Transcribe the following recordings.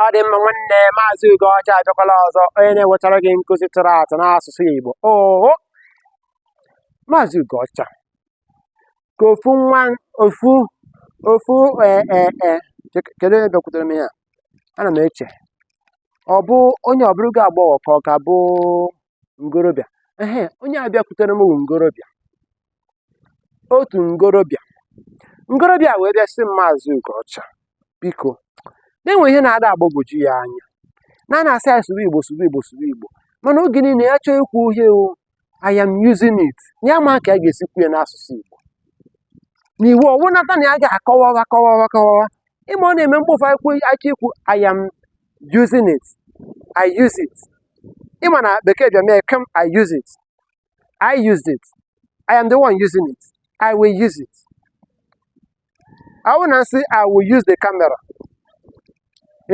ọ dị mma nwanne maazị Ugocha abịakwala ọzọ onye na-ewetara gị nkụzi tụrụ atụ n'asụsụ Igbo oo maazị Ugocha ka ofu nwa ofu ofu ee e, e, e, kedu onye bịakwutere m ya ana m eche ọ bụ onye ọ bụrụgo agbọghọ ka ọ ka bụ ngorobịa ee onye a bịakwutere m bụ ngorobịa otu ngorobịa ngorobịa wee bịa sị m maazị Ugocha biko na e nwe ihe na-ada agbagwoju ya anya na a na-asị anyị sụrụ igbo sụrụ igbo sụrụ igbo mana oge niile ya chọọ ikwu ihe o I am using it ya ama ka a ga-esi kwuo ya n'asụsụ igbo na iwu ọwụ nata na ya ga-akọwawa kọwawa kọwawa ịma ọ na-eme mkpofu akwụkwọ aka ikwu I am using it I use it ị ma na bekee bịa mee come I use it I used it. I am the one using it. I will use it. I wanna say I will use the camera.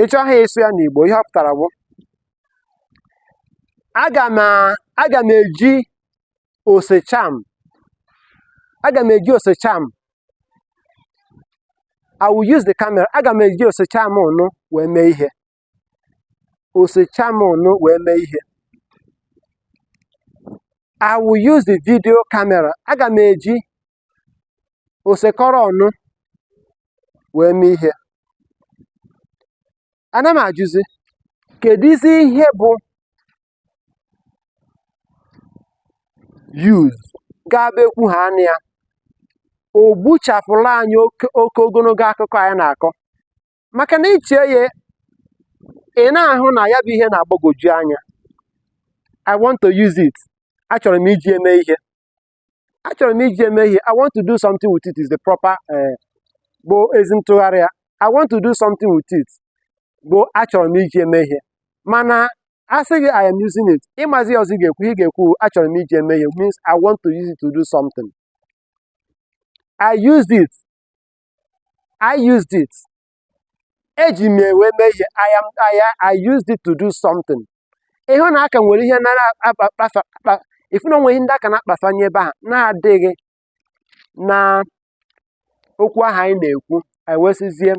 Ị chọhaa ịsụ ya n'Igbo ihe ọ pụtara bụ aga m aga m eji osecham aga m eji osecham I will use the camera aga m eji osecham ọnụ wee mee ihe osecham ọnụ wee mee ihe I will use the video camera aga m eji osekọrọ ọnụ wee mee ihe ana m ajụzi kedụzi ihe bụ use ga-abụ e kwuhaa a nụ ya o gbuchapụla anyị oke ogologo akụkọ anyị na-akọ maka na ị chee ya ị na-ahụ na ya bụ ihe na-agbagwoju anya I want to use it achọrọ m iji eme ihe achọrọ m iji eme ihe I want to do something with it is the proper eh, bụ ezi ntụgharị ya I want to do something with it bụ achọrọ m iji eme ihe mana a sị gị I am using it ị mazi ọzọ ị ga-ekwu ị ga-ekwu achọrọ m iji eme ihe means I want to use it to do something I used it I used it. Eji m ya wee mee ihe. I am I, I used it to do something. Ị hụ na a ka nwere ihe na-akpafa ị fụ na o nwere ihe ndị a ka na-akpafanye ebe a na-adịghị na okwu ahụ anyị na-ekwu anyị wee sịzie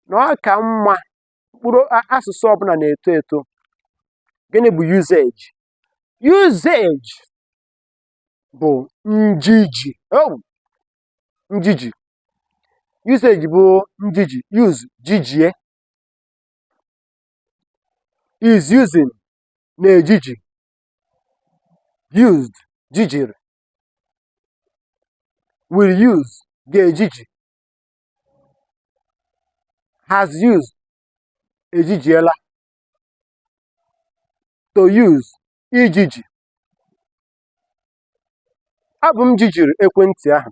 na ọ ka mma mkpụrụ asụsụ ọbụla na-eto eto gịnị bụ usage usage bụ njiji oh! njiji usage bụ njiji use jijie is using na-ejiji used jijiri will use ga-ejiji has used ejijiela to use ijiji Ọ bụ m jijiri ekwentị ahụ.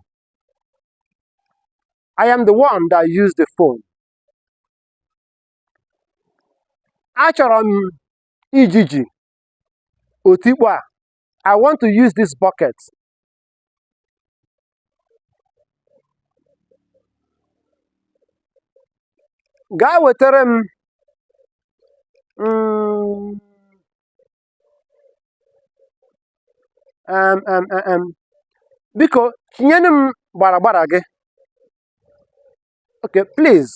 I am the one that used the phone. Achọrọ m ijiji otikpo a. I want to use this bucket. Gaa wetara m mm, um, um, um, um. biko chinyenụ m gbaragbara gị okay please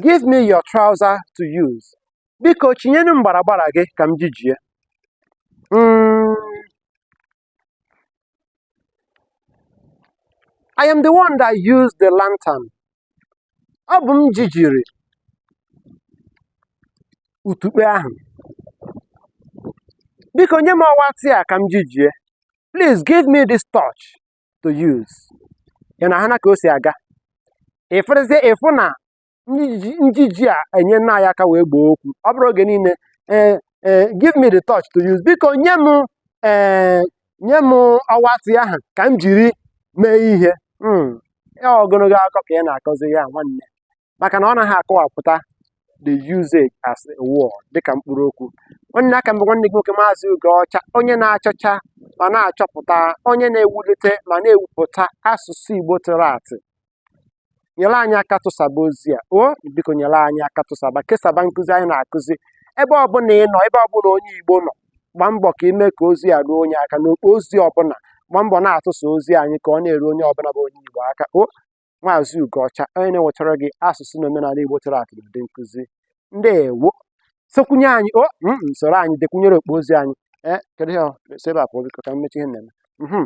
give me your trouser to use biko chinyenụ m gbaragbara gị ka m jijie mm, I am the one that used the lantern. Ọ bụ m jijiri utukpe ahụ. Biko nye m ọwatị a ka m jijie. Please give me this torch to use. Ị na-ahụ na ka o si aga. Ị fụrụzie ị fụ na njiji a enyena anyị aka wee gboo okwu ọ bụrụ oge niile ee eh, ee eh, give me the torch to use biko nye m ee eh, nye m ọwatị ahụ ka m jiri mee ihe hmm, ya ogologo akụkọ ka ị na-akọzi ya nwanne maka na ọ naghị akọwapụta the usage as a word dịka mkpụrụ okwu nwanne aka m bụ nwanne gị nwoke maazị Ugocha onye na-achọcha ma na-achọpụta onye na-ewulite ma na-ewupụta asụsụ Igbo tụrụ atụ nyere anyị aka tụsaba ozi a o biko nyere anyị aka tụsaba kesaba nkụzi anyị na-akụzi ebe ọbụla ị nọ ebe ọbụla onye igbo nọ gbaa mbọ ka i mee ka ozi a ruo onye aka n'okpo ozi ọbụla gbaa mbọ na-atụsa ozi anyị ka ọ na-eru onye ọbụla bụ onye igbo aka o maazị ugoọcha onye na-ewetara gị asụsụ na omenala igbo tụrụ atụ n'ụdị nkụzi ndeewo sokwunye anyị o mm, soro anyị dekwunyere okpo ozi anyị ee kedu ihe ọ si ebe a pụọ biko ka m mechaa ihe m na-eme Mhm.